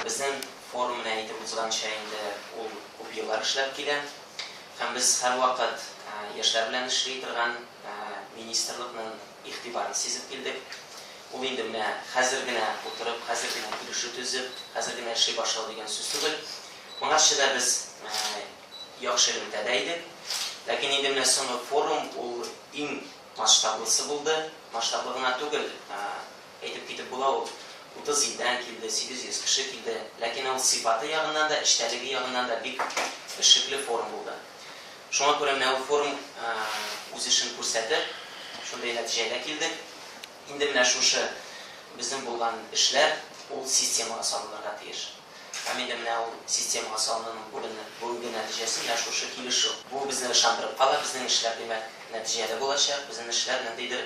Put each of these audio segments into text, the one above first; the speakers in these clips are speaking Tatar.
Безнең форум, менә әйтеп узганча, инде ул күп еллар эшләп килә. Һәм без һәрвакыт яшьләр белән эшли торган министрлыкның игътибарын сизеп килдек. Ул инде менә хәзер генә утырып, хәзер генә килешү төзеп, хәзер генә эшли башлау дигән сүз түгел. Моңарчы да без яхшы элемтәдә идек. Ләкин инде менә соңгы форум ул иң масштаблысы булды. Масштаблы гына түгел, Әйтеп китеп була ул. Утыз илдән килде, сигез йөз кеше килде. Ләкин ул сыйфаты ягыннан да, эчтәлеге ягыннан да бик эшлекле форум булды. Шуңа күрә менә ул форум үз эшен күрсәтер, шундый нәтиҗәгә килдек. Инде менә шушы безнең булган эшләр ул системага салынырга тиеш. Һәм инде менә ул системага салынуның бүгенге бүгенге нәтиҗәсе менә шушы килешү. Бу безне ышандырып кала, безнең эшләр, димәк, нәтиҗәле булачак, безнең эшләр ниндидер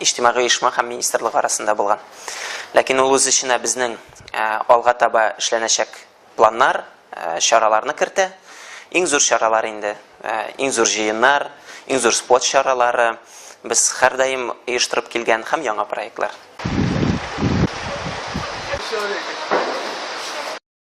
иҗтимагый оешма һәм министрлык арасында булган. Ләкин ул үз эченә безнең алга таба эшләнәчәк планнар, чараларны кертә. Иң зур чаралар инде, иң зур җыеннар, иң зур спорт чаралары, без һәрдаим оештырып килгән һәм яңа проектлар.